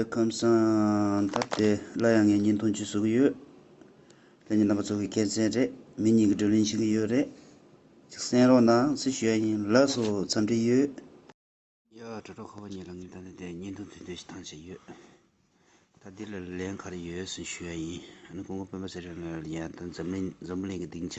པའི་ཁམས་སངས་ཐབས་དེ་སླར་ཡང་ངས་བརྙན་ཐུང་བྱེད་བཟོ་གི་ཡོད། ལྷན་གྱི་རྣམ་པ་ཚོ་གི་སྐད་མཚན་རེད། མི་གཉིས་ཀྱི་བགྲོ་གླེང་བྱེད་ཀྱི་ཡོད་རེད། ཅིག་གསན་རོགས་གནང་སུ་ཞུ་ཡ་ཡིན་ལགས་སོ་འཚམས་འདྲི་ཡོད། ཡ། དྲོ་དྲོ་ཁོ་བོ་གཉིས་ལ་ངས་ད་ལྟ་དེ་བརྙན་ཐུང་དེ་འདོན་ཞིག་བཏང་བྱས་ཡོད། ད་འདི་ལ་ལན་ག་རེ་ཡོད་སུ་ཞུ་ཡ་ཡིན། ཨ་ནི་ཀོང་ཀོང་སྤེན་པ་ཟེར་ཡོད་ན་ཡང་ད་འཛམ་གླིང་འཛམ་བུ་གླིང་གི་སྡིངས་ཆ་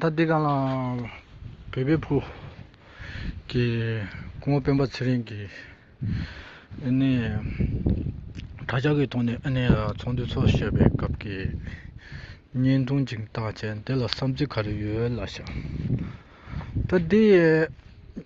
ད་འདི་ག་ལ་བོད་པའི་བུ་གི་སྐུ་ངོ་སྤེན་པ་ཚེ་རིང་གི་ནི་དྲ་ཇག་གི་ཐོག་ནས་ཨ་ནེ་ཚོགས་འདུ་འཚོགས་ཞེས་པའི་སྐབས་ཀྱི་བརྙན་ཐུང་གཅིག་བཏགས་ཅན་དེ་ལ་བསམ་ཚུལ་ག་རེ་ཡོད་ལ་ཤག་ད་འདི་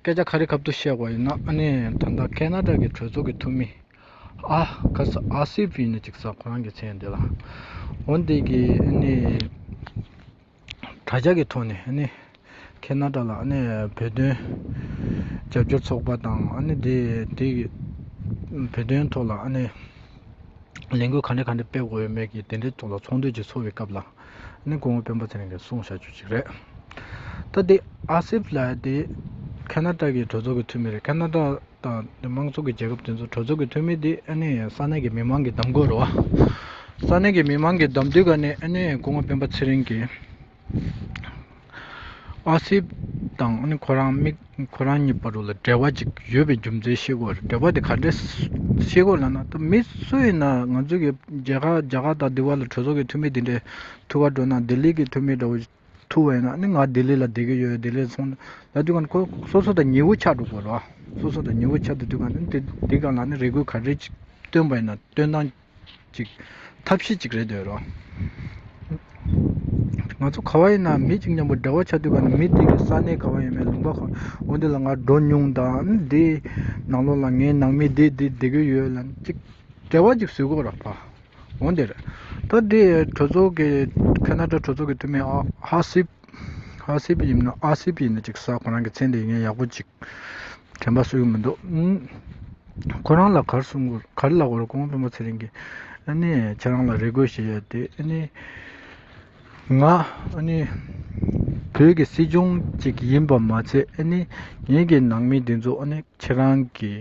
སྐད་ཆ་ག་རེ་གབ་ཏུ་གཤེགས་པ་ཡིན་ན་ཨ་ནེ་ད་ལྟ་ཁ་ན་ཏྲ་གི་གྲོས་ཚོགས་ཀྱི་འཐུས་མི་ཨ་ཁ་ས་ཨ་སི་བྷི་ནི་ཅིག་ས་ཁོ་རང་གི་མཚན་འདི་ལ་འོན་ཏེ་གི་ཨ་ནེ་དྲ་རྒྱ་གི་ཐོག་ནས་ཨ་ནེ་ཁ་ན་ཏྲ་ལ་ཨ་ནེ་བོད་དོན་རྒྱབ་སྐྱོར་ཚོགས་པ་དང་ཨ་ནེ་དེ་དེ་གི་བོད་དོན་ཐོག་ལ་ཨ་ནེ་ལས་འགུལ་ག་འདྲ་ག་འདྲ་སྤེལ་དགོས་ཡོད་མེད་ཀྱི་དེ་འདྲའི་ཐོག་ལ་ཚོགས་འདུ་ཅིག་ཚོགས་པའི་སྐབས་ལ་ནི་གོང་བུ་དཔོན་པོ་ཚེ་རིང་གིས་གསུངས་བྱ་རྒྱུ་ཅིག་རེད། ད་ལྟའི་ཨ་སིབ་ལ་དེ་ཁ་ན་ཀྲ་གི་གྲོས་ཚོགས་ཀྱི་འཐུས་མི་རེད་ཁ་ན་ཀྲ་དང་དེ་མང་ཚོགས་ཀྱི་རྒྱལ་ཁབ་དེ་ཚོའི་གྲོས་ཚོགས་ཀྱི་འཐུས་མི་དེ་ཨ་ནི་ས་གནས་ཀྱི་མི་མང་གིས་གདམ་དགོས་རེད་བ། ས་གནས་ཀྱི་མི་མང་གིས་གདམ་དུས་ཀ་ནས་ཨ་ནི་གོང་བུ་དཔོན་པོ་ཚེ་རིང་གིས། ཨ་སིབ་དང་ཨ་ནི་ཁོ་རང་མིག་ཁོ་རང་གཉིས་བར་རུ་ལ་འབྲེལ་བ་ཅིག་ཡོད་པའི་རྒྱུ་མཚན་ཤེས་དགོས་རེད་འབྲེལ་བ་དེ་ག་འདྲའི་ཤེས་དགོས་ལ་ན་ད་མི་སུ་ཡིན་ན་ང་ཚོ་གི་རྒྱ་གར་རྒྱ་གར་དང་འདི་བར་ལ་གྲོས་ཚོགས་ཀྱི་འཐུས་མི་དེ་འདྲའི་ཐུ་བ་འགྲོ་ན་ལྡི་ལི་གི་འཐུས་མི་འདྲ་བོ་ཐུ་བ་ཡིན་ན་ནི་ང་ལྡི་ལི་ལ་བསྡད་ཀྱི་ཡོད་ལྡི་ལི་སོང་ན་ད་དུས་ཀྱང་ཁོ་སོ་སོ་དང་ཉེ་བོ་ཆགས་འགྲོ་དགོས་རེད་བ་སོ་སོ་དང་ཉེ་བོ་ཆགས་འདི་དུས་ཀྱང་ནི་འདི་ག་ལ་ནི་རེ་སྐུལ་ག་རེ་ཅིག་བཏོན་པ་ཡིན་ན་བཏོན་སྟངས་ཅིག་ཐབས་ཤེས་ཅིག་རེད་འདོད་རོགས། ང་ཚོ་ག་བ་ཡིན་ནམ་མི་གཅིག་མཉམ་པོ་འབྲེལ་བ་ཆ་མཐུན་པ་ནི་མི་དེ་གི་ས་གནས་ག་བ་ཡིན་མིན་ལུང་པ་གང་འོ་འདི་ལ་ང་འགྲོ་མྱོང་དང་འདི་ནང་ལོགས་ལ་ངའི་ནང་མི་འདི་འདི་འདི་གི་ཡོད་ལ་ཅིག་འབྲེལ་བ་ཅིག་བཟོས་གོ་ར་བ་འོ་འདི་རེད་ད་འདི་གྲོས་ཚོགས་ཀྱི་ཁ་ན་དྲ་གྲོས་ཚོགས་ཀྱི་འཐུས་མི་ཨ་ཧ་སི་ཨ་སི་བྷི་ཡིན་ན་ཨ་སི་བྷི་ཡིན་ན་ཅིག་ཟ་ཁོ་རང་གི་མཚན་དེ་ངས་ཡག་པོ་ཅིག་དྲན་པ་སུ་ཡང་མི་འདུག་ཁོ་རང་ལ་གར་གསུང་གོ་གར་ལ་གོ་རེ་གོང་དཔོན་པོ་ཚེ་རིང་གིས་ཨ་ནི་ཁྱེད་རང་ལ་རེ་དགོས་ཞིག་ཡོད་དེ་ཨ་ནི་ང་ཨ་ནི་བོད་ཀྱི་སྲིད་སྐྱོང་ཅིག་ཡིན་པ་མ་ཚད་ཨ་ནི་ངེད་ཀྱི་ནང་མི་དེ་ཚོ་ཨ་ནི་ཁྱེད་རང་གི་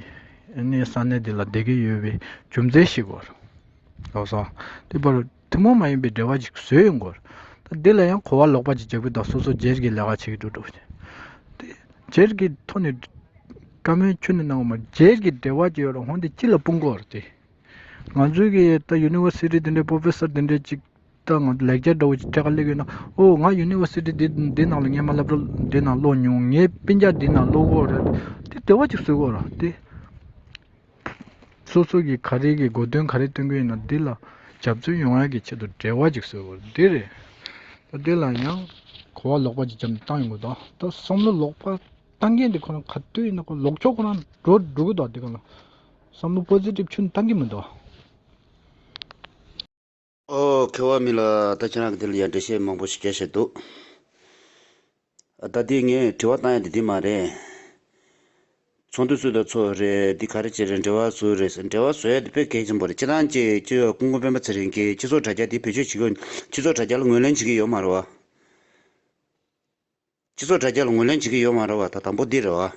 ཨ་ནི་ས་གནས་འདི་ལ་བསྡད་ཀྱི་ཡོད་པའི་རྒྱུ་མཚན་ཞིག་གོ་ལགས་སོ་དེ་པར་ཐུན་མོང་མ་ཡིན་པའི་འབྲེལ་བ་ཞིག་བཟོས་ཡོད་འགོ། འདི་ལ་ཡང་གོ་བ་ལོག་པ་ཅིག་རྒྱག་པའི་དོགས་ཟོན་སོགས་སྦྱེར་གྱི་ལས་ཀ་བྱེད་ཀྱི་འདུག་དེ་སྦྱེར་གྱི་ཐོག་ནས་བཀའ་མོལ་ཁྱོན་ནས་གནང་བ་མ་རེད། སྦྱེར་གྱི་འབྲེལ་བ་ཅིག་ཡོད་རུང་འདི་ཅི་ལ་སྤུན་གོ་རེད་དེ། ང་ཚོའི་གི་ད University འདི་འདྲའི Professor འདི་འདྲའི་ཅིག་ད་ང་ཚོ་ལེགས་སྦྱར་འདྲ་བོ་ཅིག་ཐད་ཀར་སླེབས་ཡོད་ན་ཨོ་ང University འདི་འདི་ནང་ལ་ངས་མ་བསླབས་རོགས་འདི་ནང་ཀློག་མྱོང་ངས་སྤུན་རྒྱག་འདི་ནང་ཀློག་གོ་རེད་དེ་འབྲེལ་བ་ཅིག་བཟོས་གོ་རེད་དེ། སོ་སོ་གིས་ག་རེ་གི་མགོ་འདོན་ག་རེ་སྟོན་གི་ཡིན་ན་འདི་ལ་རྒྱབ་རྩོད་ཡོང་ཡག་གི་ཆེད་དུ་བྲེལ་བ་ཅིག་བཟོས་དགོས་འདི་རེད། དེ་ལ་ཡང་གོ་བ་ལོག་པ་ཅིག་བརྒྱབ་ནས་བཏང་ཡོང་གི་འདུག་ད་བསམ་བློ་ལོག་པ་བཏང་མཁན་དེ་ཁོ་རང་ག་དུས་ཡིན་ན་ཁོ་ལོག་ཕྱོགས་ཁོ་རང་འགྲོ་འགྲོ་གི་འདུག་དེ་ག་ལ་བསམ་བློ་པོ་ཟེ་ཏིབ་ཆུན་བཏང་གི་མི་འདུག། ཨོ། ཁེ་བ་མི་ལ་ད་ཁྱེད་རང་གི་དེ་ལ་ཡང་འགྲེལ་བཤད་མང་པོ་ཞིག་རྒྱག་བཞིན་འདུག། ད་དེ་ངས་དྲི་བ་བཏང་ཡ་དེ་དེ་མ་རེད། ཚོགས་འདུ་ཚོད་ལྟ་ཚོ་རེད་འདི་ག་རེ་བྱེད་རེད་འབྲེལ་བ་བཟོ་རེད་ཟེར་འབྲེལ་བ་བཟོ་ཡ་དེ་དཔེ་གལ་ཆེན་པོ་རེད་སྤྱི་དང་སྤྱི་སྤྱི་ཡོ་སྐུ་མགོན་སྤེན་པ་ཚེ་རིང་གིས་སྤྱི་ཚོགས་དྲ་རྒྱ་དེ་བེད་སྤྱོད་བྱེད་དགོས་སྤྱི་ཚོགས་དྲ་རྒྱ་ལ་ངོས་ལེན་བྱེད་ཀྱི་ཡོད་མ་རེད་བ། སྤྱི་ཚོགས་དྲ་རྒྱ་ལ་ངོས་ལེན་བྱེད་ཀྱི་ཡོད་མ་རེད་བ་ད་དང་པོ་འདི་རེད་བ།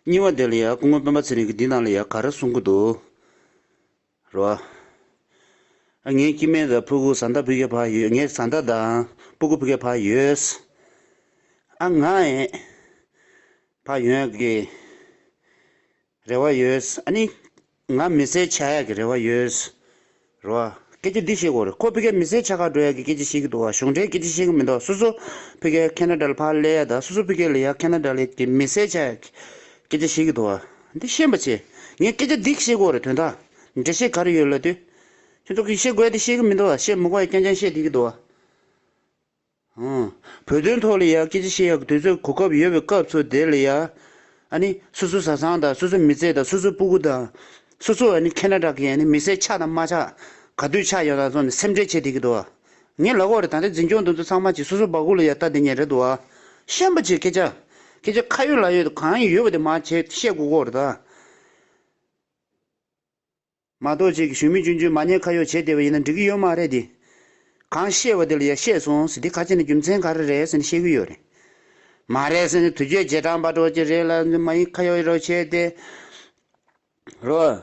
གཉིས་བ་འདི་ལ་ཡང་སྐུ་ངོ་སྤེན་པ་ཚེ་རིང་གིས་འདི་ནང་ལ་ཡང་ག་རེ་གསུང་གི་འདུག་རེད་བ། ཨ་ངའི་སྐྱི་སྨན་དང་ཕུ་གུ་བཟའ་ཟླ་བུ་གའི་བར་ཡོད་ངའི་བཟའ་ཟླ་དང་སྤུ་གུ་བུ་གའི་བར་ཡོད། ཨ་ང་ཡི་བར་ཡོད་ཀི། རེ་བ་ཡོད། ཨ་ནི། ང་མི་སེར་ཆགས་ཡག་གི་རེ་བ་ཡོད། རེ་བ། སྐད་ཆ་འདི་བཤད་དགོས་རེད། ཁོ་ཕི་གའི་མི་སེར་ཆགས་ཁག་འགྲོ་ཡག་གི་སྐད་ཆ་བཤད་གི་འདུག་བ་གཞུང་འབྲེལ་སྐད་ཆ་བཤད་གི་མི་འདུག་སོ་སོ་ཕི་གའི་ཁེ་ན་དྲ་ལ་ཕར་སླེ་ཡག་དང་སོ་སོ་ཕི་གའི་ལི་ཡག་ཁེ་ན་དྲ་ལི་གི་མི་སེར་ཆགས་ཡག་གི་སྐད་ཆ་བཤད་གི་འདུག་བ་འདི་ཤེས་པ་ཆེ་ངས་སྐད་ཆ་འདི་བཤད་དགོས་རེད་དོན་དག་འབྲེལ་བཤད་ག་རེ་ཡོད་ལ་དུས་ཁྱོད་ཚོ་གི་བཤད་དགོས་ཡག་དེ་བཤད་གི་མི་འདུག་བ་བཤད་མི་དགོས་ཡག་སྐྱང་སྐྱང་བཤད་བསྡད་གི་འདུག་བ། བོད་དོན་ཐོག་ལ་ཡང་སྐད་ཆ་བཤད་ཡག་དུས་ཚོད་གོ་སྐབས་ཡོད་པའི་སྐབས་ཚོ་དེ་ལ་ཡང། ཨ་ནི། སོ་སོ་བཟའ་ཚང་དང་སོ་སོ་མི་ཚེ་དང་སོ་སོ་སྤུ་གུ་དང། སོ་སོ་ཨ་ནི་ཁེ་ན་ཏྲག་གི་ཨ་ནི་མི་སེར་ཆགས་དང་མ་ཆགས། ག་དུས་ཆགས་ཡོད་དང་སོགས་ནི་སེམས་ཁྲལ་བྱེད་བསྡད་ཀྱི་འདུག། ངའི་ལག་འོག་རེད་ད་ལྟའི་འཛིན་སྐྱོང་འདི་ཚོ་ཚང་མ་གྱིས་སོ་སོ་སྦག་གུ་ལ་ཡང་ལྟ་བསྡད་ཉེན་རེད་འདུག། ཤན་པ་ཆེ་སྐད་ཆ། སྐད་ཆ་ཁ་ཡོད་ལག་ཡོད་དུ་གང་ཡོད་པ་དེ་མ་བྱེད་བཤད་དགོས་དགོས་རེད་ད། མ་གཏོགས་ཁྱེད་ཀྱིས་གཞུང་མི་གཅུན་གཅུན་མ་ཉེས་ཁ་ཡོག་བྱས་བསྡད་པ་ཡིན་ན་འགྲིག་གི་ཡོད་མ་རེད་དེ། གང་བཤད་པ་དེ་ལ་ཡར་བཤད་སོང་ཟེར་དེ་ཁ་ཆེ་ན་རྒྱུ་མཚན་ག་རེ་རེད་ཟེར་ནས་བཤད་ཀྱི་ཡོད་རེད། མ་རེད་ཟེར་ནས་དུས་ཚོད་རྗེས་འབྲང་པ་འགྲོ་གི་རེད་ལ་མ་ཡིན་ཁ་ཡོག་རོགས་བྱས་ཏེ་རོགས།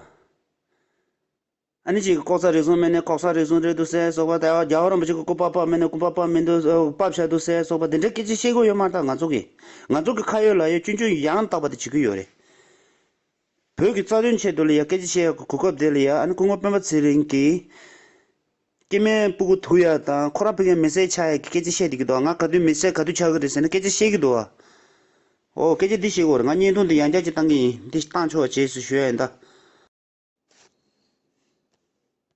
ཨ་ནི་ཁྱེད་ཀྱི་ལྐོག་ཟ་རིགས་ཟུང་སྨན་ནི་ལྐོག་ཟ་རིགས་ཟུང་རེད་འདུག་ཟས་སོགས་པ་དེ་རྒྱ་ཨོ་རོམ་པ་ཅིག་གི་སྐུ་པགས་པགས་སྨན་ནི་སྐུ་པགས་པགས་མིན་འདུག་སྐུ་པགས་བྱ་འདུག་ཟས་སོགས་པ་དེ་འདྲའི་སྐད་ཆ་བཤད་ཀྱི་ཡོད་མ་ཐག་ང་ཚོ་གིས་ང་ཚོ་གི་ཁ་ཡོག་ལག་ཡོག་གཅུན་གཅུན་ཡང་དག་པ་དེ་བྱེད་ཀྱི་ཡོད་རེད། བོད་ཀྱི་རྩ་དོན་ཆེད་དུ་ལི་ཡ་སྐད་ཆ་བཤད་ཡག་གི་གོ་སྐབས་དེ་ལི་ཡ་ཨ་ནེ་སྐུ་ངོ་སྤེན་པ་ཚེ་རིང་གིས། སྐྱེས་མའི་སྤུ་གུ་དུག་ཡག་དང་ཁོ་རང་ཕི་གའི་མི་སེར་ཆགས་ཡག་གི་སྐད་ཆ་བཤད་བསྡད་ཀྱི་འདུག་ང་ག་དུས་མི་སེར་ག་དུས་ཆགས་ཀྱི་རེད་ཟེར་ན་སྐད་ཆ་བཤད་ཀྱི་འདུག་ཨོ་སྐད་ཆ་འདི་བཤད་གོ་རེད་ང་བརྙན་ཐུང་འདི་ཡང་བསྐྱར་གྱི་བཏང་གི་ཡིན་འདི་བཏང་ཆོག་རྗེས་སུ་ཞུ་ཡ་ཡིན་ད།